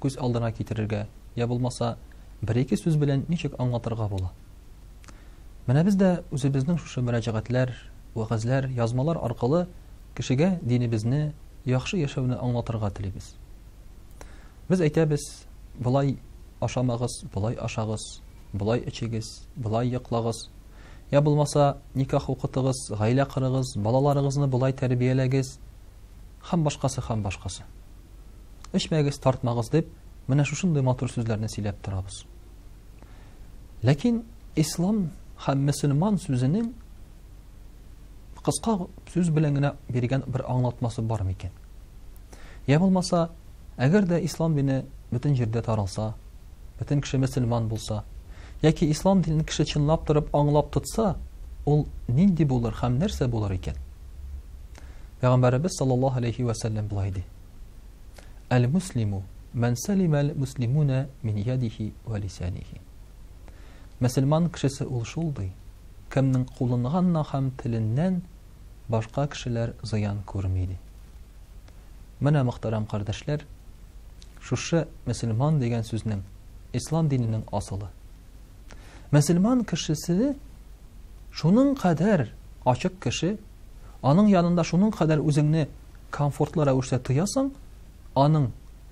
күз алдына китерергә, я булмаса, бер-ике сүз белән ничек аңлатырга була? Менә без дә үзебезнең шушы мөрәҗәгатьләр, вәгазьләр, язмалар аркылы кешегә динебезне, яхшы яшәүне аңлатырга телибез. Без әйтәбез, болай ашамагыз, болай ашагыз, болай эчегез, болай йоклагыз. Я булмаса, никах укытыгыз, гаилә кырыгыз, балаларыгызны болай тәрбияләгез. Хам башкасы, хам башкасы. Эчмәгез, тартмагыз дип, менә шушындый матур сүзләрне сөйләп торабыз. Ләкин ислам һәм мөселман сүзенең кыска сүз белән генә биргән бер аңлатмасы бар микән? Я булмаса, әгәр дә ислам дине бөтен җирдә таралса, бөтен кеше мөселман булса, яки ислам динен кеше чынлап торып аңлап тотса, ул нинди булыр һәм нәрсә булыр икән? Пәйгамбәребез саллаллаһу алейхи ва сәлләм булай ди. Әл-муслиму мән салима әл-муслимуна мин ядихи ва лисанихи. Мөселман кешесе ул шул ди. Кемнең кулынганнан һәм теленнән башка кешеләр зыян күрми ди. Менә мөхтәрәм кардәшләр, шушы мөселман дигән сүзнең ислам диненең асылы. Мөселман кешесе шуның кадәр ачык кеше, Аның янында шуның кадәр үзеңне комфортлы рәвештә тоясың, аның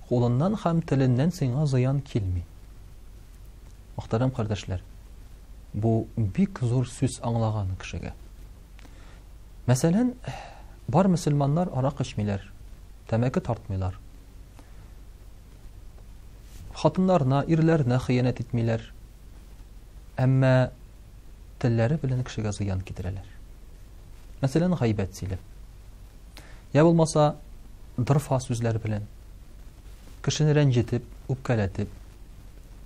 кулыннан һәм теленнән сиңа зыян килми. Мөхтәрәм кардәшләр, бу бик зур сүз аңлаган кешегә. Мәсәлән, бар мөселманнар арак эчмиләр, тәмәке тартмыйлар. Хатыннарына, ирләренә хыянәт итмиләр. Әмма телләре белән кешегә зыян китерәләр. Мәсәлән, гайбәт сөйләп. Я булмаса, дырфа сүзләр белән кешене рәнҗетеп, үпкәләтеп.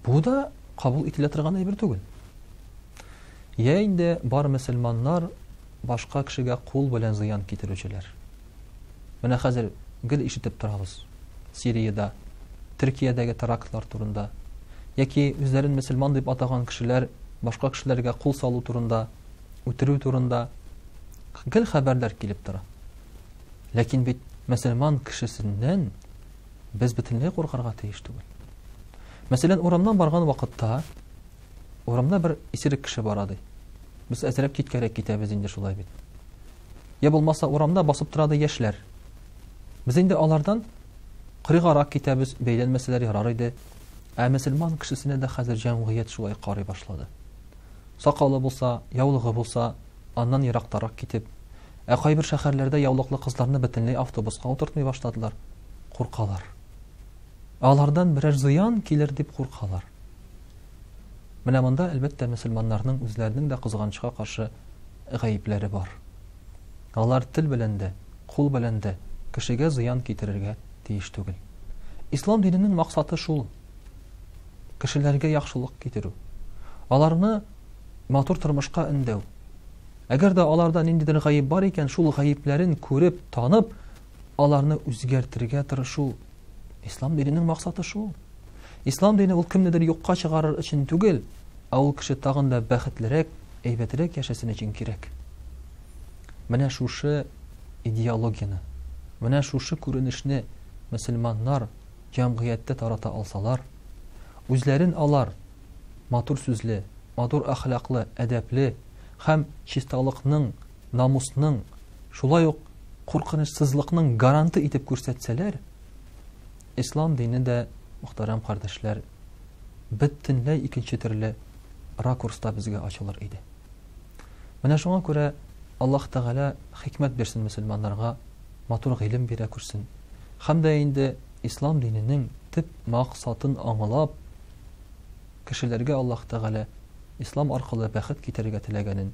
Бу да кабул ителә торган әйбер түгел. Я инде бар мөселманнар башка кешегә кул белән зыян китерүчеләр. Менә хәзер гел ишетеп торабыз. Сириядә, Төркиядәге терактлар турында. Яки үзләрен мөселман дип атаган кешеләр башка кешеләргә кул салу турында, үтерү турында гел хәбәрләр килеп тора. Ләкин бит мөселман кешесеннән без бөтенләй куркарга тиеш түгел. Мәсәлән, урамнан барган вакытта урамда бер исерек кеше бара ди. Без әзрәк киткәрәк китәбез инде шулай бит. я булмаса урамда басып тора ди яшьләр. Без инде алардан кырыгарак китәбез, бәйләнмәсәләр ярар иде. Ә мөселман кешесенә дә хәзер җәмгыять шулай карый башлады. Сакалы булса, яулыгы булса, аннан ерактарак китеп, ә кайбер шәһәрләрдә яулыклы кызларны бөтенләй автобуска утыртмый башладылар. Куркалар. Алардан берәр зыян килер дип куркалар. Менә монда, әлбәттә, мөселманнарның үзләренең дә кызганычка каршы гаепләре бар. Алар тел белән дә, кул белән дә кешегә зыян китерергә тиеш түгел. Ислам диненең максаты шул. Кешеләргә яхшылык китерү. Аларны матур тормышка өндәү. Әгәр дә аларда ниндидер гаеп бар икән, шул гаепләрен күреп, танып, аларны үзгәртергә тырышу ислам диненең максаты шул ислам дине ул кемнедер юкка чыгарыр өчен түгел ә ул кеше тагын да бәхетлерәк әйбәтрәк яшәсен өчен кирәк менә шушы идеологияне менә шушы күренешне мөселманнар җәмгыятьтә тарата алсалар үзләрен алар матур сүзле матур әхлаклы әдәпле һәм чисталыкның намусның, шулай ук куркынычсызлыкның гаранты итеп күрсәтсәләр, ислам дине дә, мөхтәрәм кардәшләр, бөтенләй икенче төрле ракурста безгә ачылыр иде. Менә шуңа күрә Аллаһ Тәгалә хикмәт бирсен мөселманнарга, матур гыйлем бирә күрсен. Хәм дә инде ислам диненең төп максатын аңлап, кешеләргә Аллаһ Тәгалә ислам аркылы бәхет китерергә теләгәнен